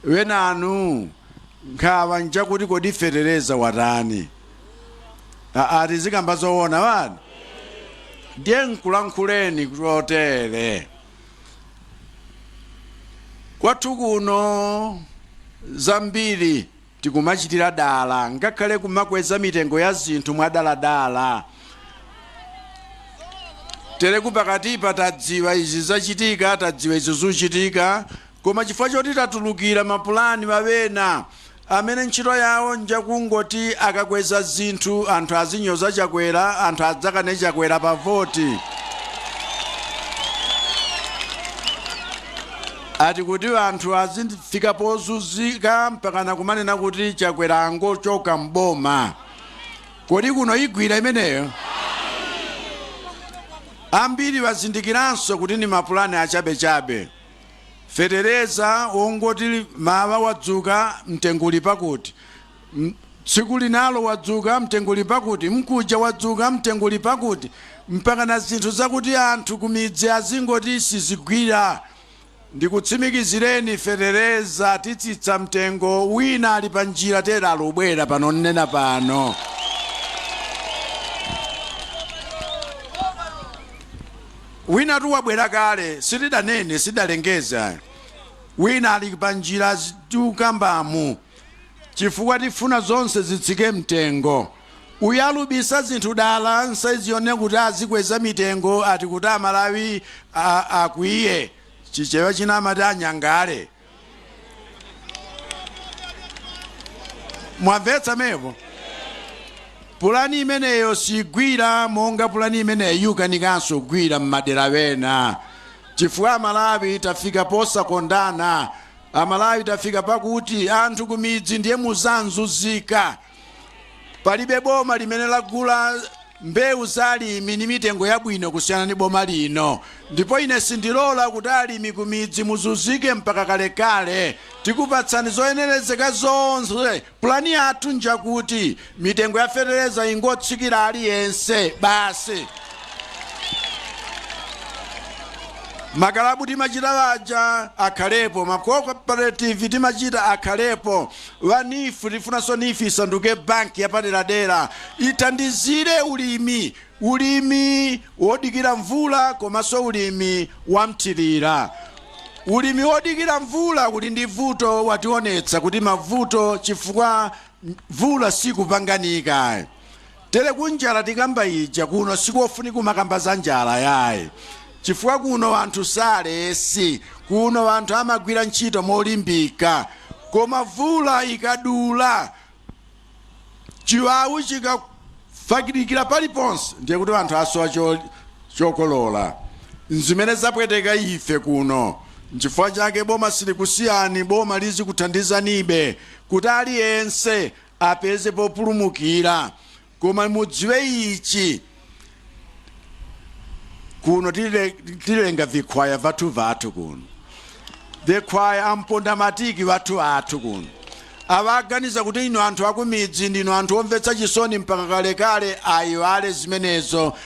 wenanu nkhawa nchakuti kodi fetereza watani aa tizikamba zoona wani ndiye nkulankhuleni kutotere kwathu kuno zambiri tikumachitira dala ngakhale kumakweza mitengo ya zinthu mwadaladala tere kupakatipa tadziwa izi zachitika tadziwa izi zuchitika Koma chifukwa choti tatulukira mapulani a wena amene ntchito yawo njakungoti akakweza zinthu anthu azinyoza Chakwera, anthu adzakane Chakwera pa voti. Ati kuti anthu azifika pozunzika mpakana kumanena kuti Chakwera angochoka m'boma. Kodi kuno igwira imeneyo? Ambiri azindikiranso kuti ndi mapulani achabechabe. Fetereza wongoti mawa wadzuka mtengo uli pakuti, tsiku linalo wadzuka mtengo uli pakuti, mkuja wadzuka mtengo uli pakuti, mpakana zinthu zakuti anthu kumidzi azingoti sizigwira. Ndikutsimikizireni fetereza titsitsa mtengo, wina ali panjira tere alubwera pano nnena pano. Winatu wabwera kale sitidanene sitidalengeze ayi wina ali pa njira tiukambamu chifukwa tifuna zonse zitsike mtengo uyu alubisa zinthu dala nsaizi yonena kuti azikweza mitengo ati kuti amalawi akwiye chichewa china amati anyangale mwamvetsa mepo pulani imeneyo sigwira monga pulani imeneyo yukanikanso kugwira m'madera wena chifukwa amalawi tafika posakondana amalawi tafika pakuti anthu kumidzi ndiye muzanzuzika Palibe boma limene lagula mbewu za alimi ndi mitengo yabwino kusiyana ndi boma lino ndipo ine sindilola kuti alimi kumidzi muzunzike mpaka kalekale. Tikupatsani zoyenerezeka zonse. Pulani yathu njakuti mitengo ya fetereza ingotsikira aliyense basi. Makalabu timachita aja akhalepo, ma cooperative timachita akhalepo. wa neef tifunanso neef isanduke bank yapaderadera ithandizire ulimi ulimi wodikira mvula komanso ulimi wamthirira ulimi wodikira mvula uli ndi vuto wationetsa kuti mavuto chifukwa mvula sikupanganika Tere kunjala tikamba ija kuno sikofunika kumakamba za njala yayi chifukwa kuno anthu si aulesi kuno anthu amagwira ntchito molimbika koma vula ikadula chiwawu chikafalikira paliponse ndiye kuti anthu asowa chokolola nzimene zapweteka ife kuno nchifukwa chake boma silikusiyani boma lizikuthandizanibe kuti aliyense apeze populumukira. Koma mudziwe ichi, kuno tilenga vikhwaya vathu vathu kuno vikhwaya ampondamatiki vathu athu kuno akuganiza kuti inu anthu akumidzi ndinu anthu omvetsa chisoni mpaka kalekale aiwale zimenezo